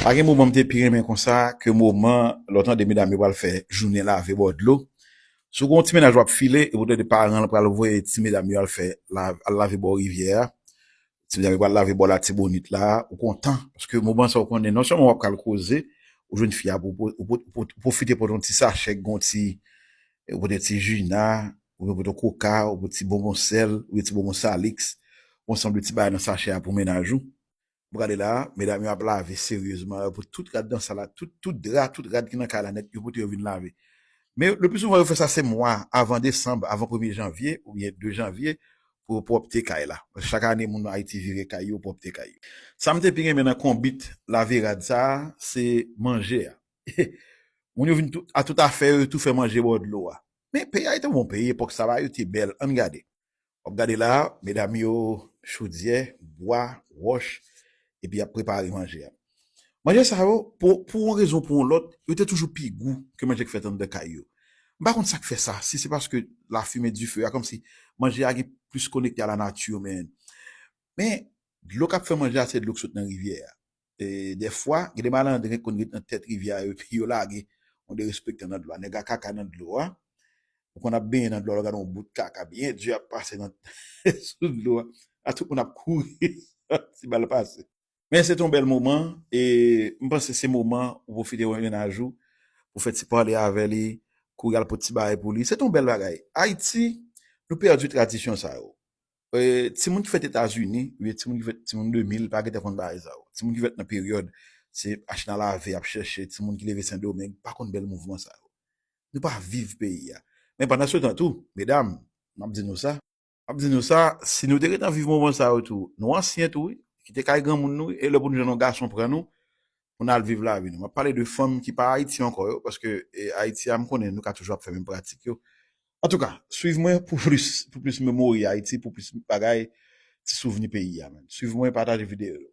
Pa gen moman m te pi renmen konsa ke moman lè w tande medam yo pral fè jounen lave bò dlo. Si w gen yon ti mennaj w ap file epi w tande paran l pral voye ti medam yo al fè al lave bò rivyè a, ti medam yo pral lave bò Latibonit la, ou kontan paske moman sa ou konnen non sèlman w ap ka al koze, ou jwenn fi a pou ou pwofite pot yon ti sachè ki gen yon ti ou pot yon ti Jina oubyen ou pot yon koka ou pot ti bonbon sèl oubyen ti bonbon Salix, yon sanble ti bagay nan sachè a pou mennaj ou. M gade la, medam yo ap lave seryezman, yo pote tout rad nan sal la, tout dra, tout rad ki nan kay la nèt, yo pote yo vin lave. Men, le pli souvan yo fè sa se mwa avan desanm, avan premye janvye oubyen 2 janvye pou yo pwòpte kay la. Paske chak ane moun Ayiti vire kay yo, pwòpte kay yo. Sa m te pi renmen nan konbit lave rad sa a, se manje a. Moun yo vin a tout afè yo, yo tou fè manje bò dlo a. Men, peyi a yo te bon peyi epòk sa va, yo te bèl. Ann gade. Wap gade la medam yo chodyè, bwa, wòch epi yap prepare manje a. Manje sa yo pou yon rezon ou pou yon lòt yo te toujou pi gou ke manje ki fèt anndan kay yo. M pa konn sak fè sa, si se paske lafimen dife a kòmsi manje a gen plis konekte a la nati men dlo kap fè manje a se dlo ki sot nan rivyè a. E dèfwa, gen de malandren ki konn ret nan tèt rivyè a yo epi yo lage yon derespektan nan dlo a. Nèg a kaka nan dlo a. Ou konn ap benyen nan dlo a lè w gade yon bout kaka byen di ap pase nan sou dlo a. La tout moun ap kouri santi mal pase. Men se te yon bèl moman e m panse se moman ou pwofite wè yon mennaj ou, ou fè ti pale avè li, kouri al pot ti bagay pou li. Se te yon bèl bagay. Ayiti, nou pèdi tradisyon sa yo. Timoun ki fèt etazini oubyen timoun ki fèt timoun 2000 pa gentan konn bagay sa yo. Timoun ki fèt nan peryòd se achte nan lave ap chèche, timoun ki leve sendomeng pa konn bèl mouvman sa yo. Nou pa viv peyi a. Men pandansetan tou, medam, m ap di nou sa, m ap di nou sa, si nou te gentan viv moman sa yo tou, nou ansyen tou wi, kite kay granmoun nou wi e lè pou nou jwenn yon gason pran nou, pou n al viv lavi nou. M ap pale de fanm ki pa Ayiti ankò yo, paske Ayiti a m konnen nou ka toujou ap fè menm pratik yo. Antouka, swiv mwen pou plis, pou plis memori Ayiti, pou plis bagay, ti souvni peyi a men. Swiv mwen, pataje videyo yo.